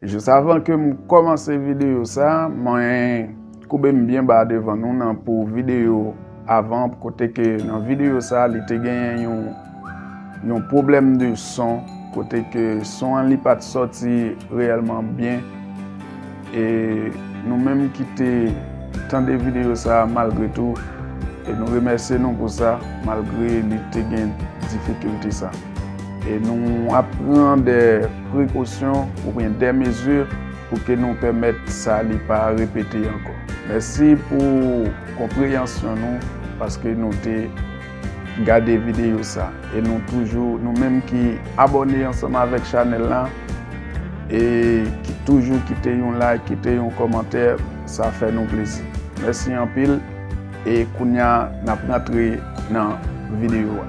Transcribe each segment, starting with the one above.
Jis avan ke m kòmanse videyo sa, mwen koube m byen ba devan nou nan pou videyo avan kote ke nan videyo sa li te genyen yon yon pwoblèm de son kote ke son an li pat sòti reyèlman byen e nou menm ki te tande videyo sa malgre tou e nou remèsye nou pou sa malgre li te gen difikilte sa. E nou ap pran dè prekosyon oubyen dè mezi pou ke nou pèmèt sa li pa repete ankò. Mèsi pou konpreyansyon nou paske nou te gade videyo sa. E nou toujou, nou menm ki abòne ansanm avèk chanèl la, e ki toujou kite yon like, kite yon kòmantè, sa fè nou plezi. Mèsi anpil, e kounya n ap rantre nan videyo a.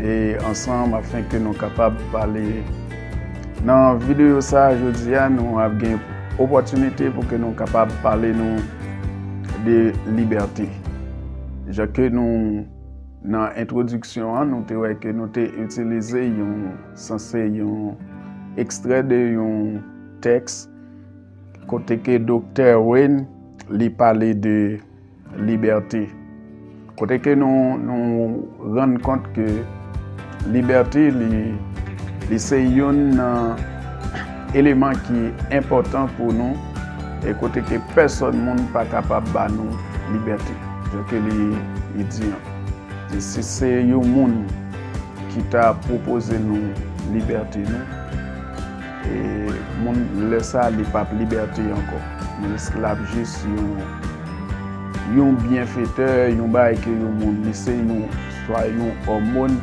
e ansanm afin ke nou kapab pale nan video sa jodi a nou ap gen opotinite pou ke nou kapab pale nou de libète jan ke nou nan entwodiksyon an nou te wè ke nou te itilize yon sanse yon ekstrè de yon tèks kote ke Doktè Wayne li pale de Libète. Kote ke nou rann kont ke libète li se youn nan eleman ki enpòtan pou nou e kote ke pèsòn moun pa kapab ba nou libète. Jan ke li di an. Si se yon moun ki ta pwopoze nou libète nou. E moun lè sa li pap liberte ankò. Li esklav jis yon yon byenfetè, yon bagay ke yon moun li se yon swa yon òmon,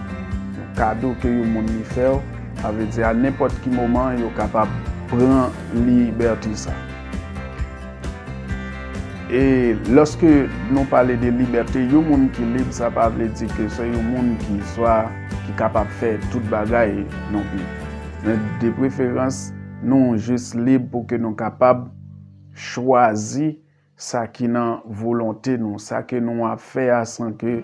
yon kado ke yon moun li fè w. Sa vle di a nenpòt ki moman yo kapab pran libète sa. E lòske nou pale de libète, yon moun ki lib sa pa vle di ke se yon moun ki swa ki kapab fè tout bagay non pli. Men de preferans nou jis lib pou ke nou kapab chwazi sa ki nan volonte nou, sa ke nou ap fè a san ke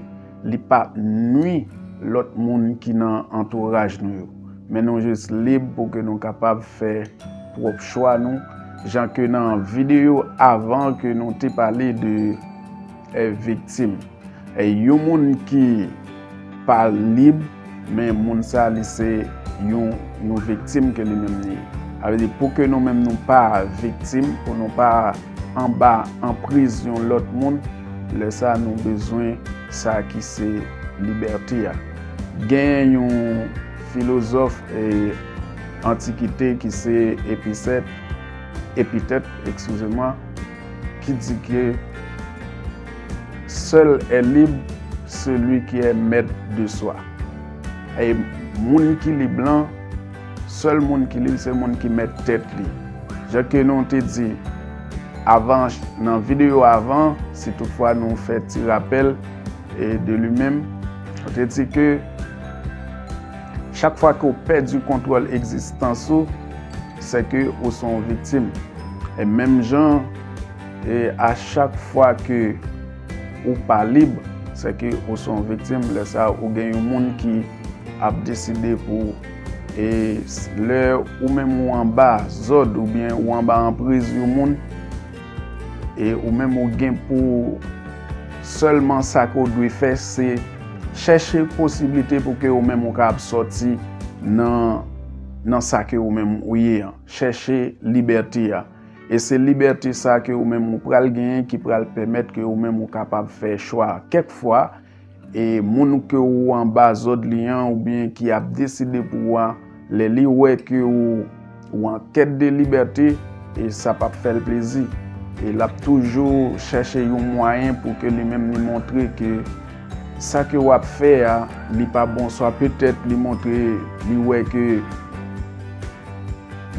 li pa nwi lòt moun ki nan antouraj nou yo. Men nou jis lib pou ke nou kapab fè pwòp chwa nou, jan ke nan videyo avan ke nou te pale de. Viktim. Yon moun ki pa lib, men moun sa li se yon viktim ke li menm li ye. Sa vle di pou ke nou menm nou pa viktim, pou nou pa anba anpriz yon lòt moun, lè sa nou bezwen sa ki se libète a. Gen yon filozòf antikite ki se Epicète, Epitèt, ekskize mwa, ki di ke Sèl è lib seli ki è mèt de swa. E moun ki lib lan, sèl moun ki lib se moun ki mèt tèt li. Jan ke nou te di avan nan videyo avan, si tout fwa nou fè ti rapèl e de li menm, nou te di ke chak fwa ke ou pèdi kontwòl egzistans ou, Sèke ou se yon viktim. E menm jan e a chak fwa ke ou pa lib, sèke ou se yon viktim. Lè sa ou gen yon moun ki ap deside pou ou. E lè ou menm ou anba zòd oubyen ou anba anpriz yon moun, e ou menm ou gen pou ou sèlman sa ke ou dwe fè se chèche posiblite pou ke ou menm ou kapab sòti nan. Nan sa ke ou menm ou ye an. Chèche libète a. E se libète sa ke ou menm ou pral genyen ki pral pèmèt ke ou menm ou kapab fè chwa. Kèk fwa, e moun ke ou anba zòd li an oubyen ki ap deside pou ou a, lè li wè ke ou an kèt de libète, e sa pap fè l plezi. E l ap toujou chèche yon mwayen pou ke li menm li montre ke Sa ke wap fè a li pa bon oswa petèt li montre li wè ke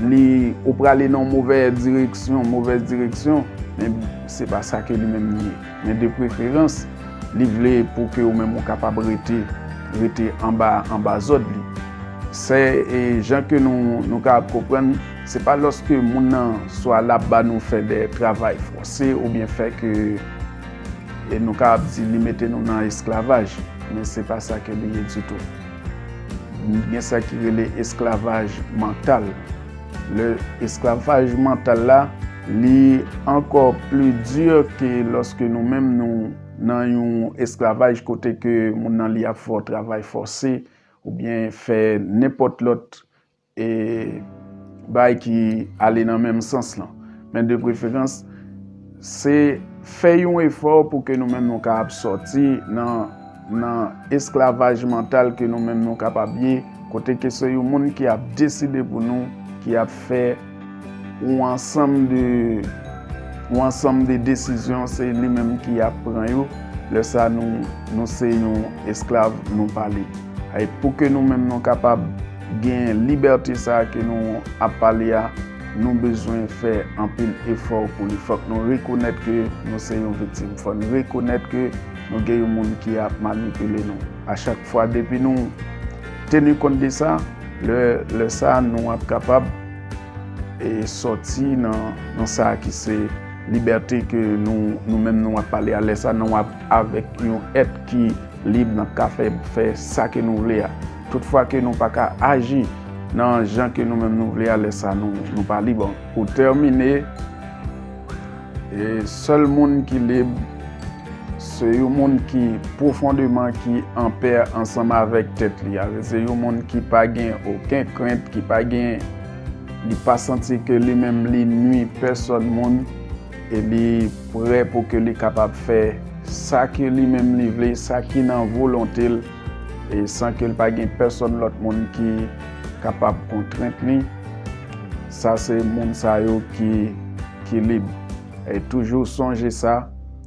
li ou prale nan yon movè direksyon, movèz direksyon, men se pa sa ke li menm li ye. Men de preferans li vle pou ke ou menm ou kapab rete, rete anba, anba zòd li. Se jan ke nou, nou ka konprann, se pa lòske moun nan swa lap ba nou fè dè travay fòse oubyen fè ke. E nou ka ap di li mete nou nan esklavaj, men se pa sa ke li ye ditou. Gen sa ki rele esklavaj mantal. Le esklavaj mantal la, li ankò pli di ke loske nou menm nou nan yon esklavaj kote ke moun nan li ap fè w travay fòse, oubyen fè nenpòt lòt E bay ki ale nan menm sans lan. Men de preferans, se fè yon efò pou ke nou menm nou kapab sòti nan esklavaj mantal ke nou menm nou kapab ye, kote ke se yon moun ki ap deside pou nou, ki ap fè yon ansanm de, yon ansanm de desizyon, se li menm ki ap pran yo. Lè sa nou se yon esklav, nou pa lib. Pou ke nou menm nou kapab. Gen libète sa a ke nou ap pale a, nou bezwen fè anpil efò pou li. Fòk nou rekonèt ke nou se yon viktim. Fò n rekonèt ke nou gen yon moun ki ap manipile nou. A chak fwa, depi nou teni kont de sa, lè sa a nou ap kapab sòti nan sa a ki se libète ke nou menm nou ap pale a. Lè sa a nou ap avèk yon èt ki lib, n ap ka fè sa ke nou vle a. Tout fwa ke nou pa ka aji nan jan ke nou menm nou vle a, lè sa nou pa lib ankò. Pou tèmine, sèl moun ki lib, se yon moun ki pwofondeman ki anpè ansanm avèk tèt li a. Se yon moun ki pa gen oken krent, ki pa gen, li pa santi ke li menm li nwi pèsòn moun, e li prè pou ke li kapab fè sa ke li menm li vle, sa ki nan volonte l. e san ke l pa gen pèsòn lòt moun ki kapab kontrent li, sa se moun sa yo ki lib. E toujou sonje sa,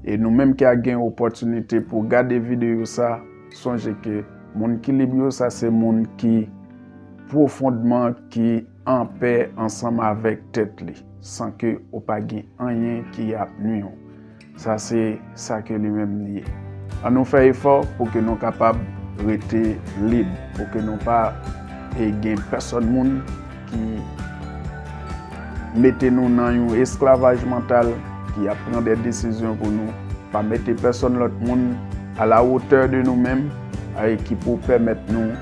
e nou menm ki a gen opòtinite pou gade videyo sa, sonje ke moun ki lib yo sa se moun ki pwofondman ki anpè ansanm avèk tèt li, san ke ou pa gen anyen ki ap nwi ou. Sa se sa ke li menm li ye. An nou fè efò pou ke nou kapab rete lib, pou ke nou pa gen pèsòn moun ki mete nou nan yon esklavaj mantal, ki ap pran de desizyon pou nou, pa mete pèsòn lòt moun a la wotè de nou menm, ki pou pèmèt nou.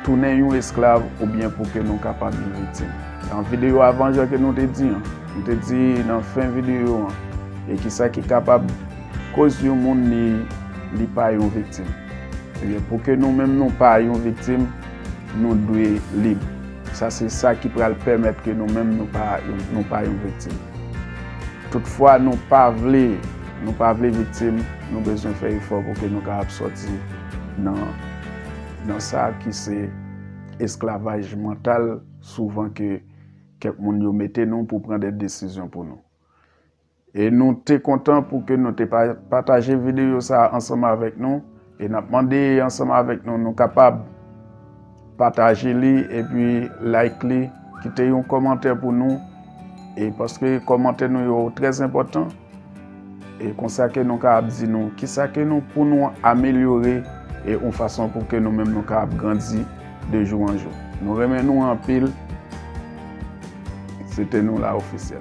Tounen yon esklav oubyen pou ke nou kapab yon viktim. Nan videyo avan jan ke nou te di an, nou te di nan fen videyo an, e kisa ki kapab koz yon moun li li pa yon viktim. Ebyen pou ke nou menm nou pa yon viktim, nou dwe lib. Sa se sa ki pral pèmèt ke nou menm nou pa nou pa yon viktim. Tout fwa nou pa vle nou pa vle viktim, nou bezwen fè efò pou ke nou kapab sòti nan Nan sa ki se esklavaj mantal souvan ke kèk moun yo mete nou pou pran de desizyon pou nou. E nou te kontan pou ke nou te pataje videyo sa ansanm avèk nou e nap mande ansanm avèk nou nou kapab pataje li epi like li kite yon kòmantè pou nou e paske kòmantè nou yo trè enpòtan. E konsa ke nou ka ap di nou ki sa ke nou pou nou amelyore e yon fason pou ke nou menm nou ka ap grandi de jou an jou. Nou renmen nou anpil. Se te nou la ofisyel.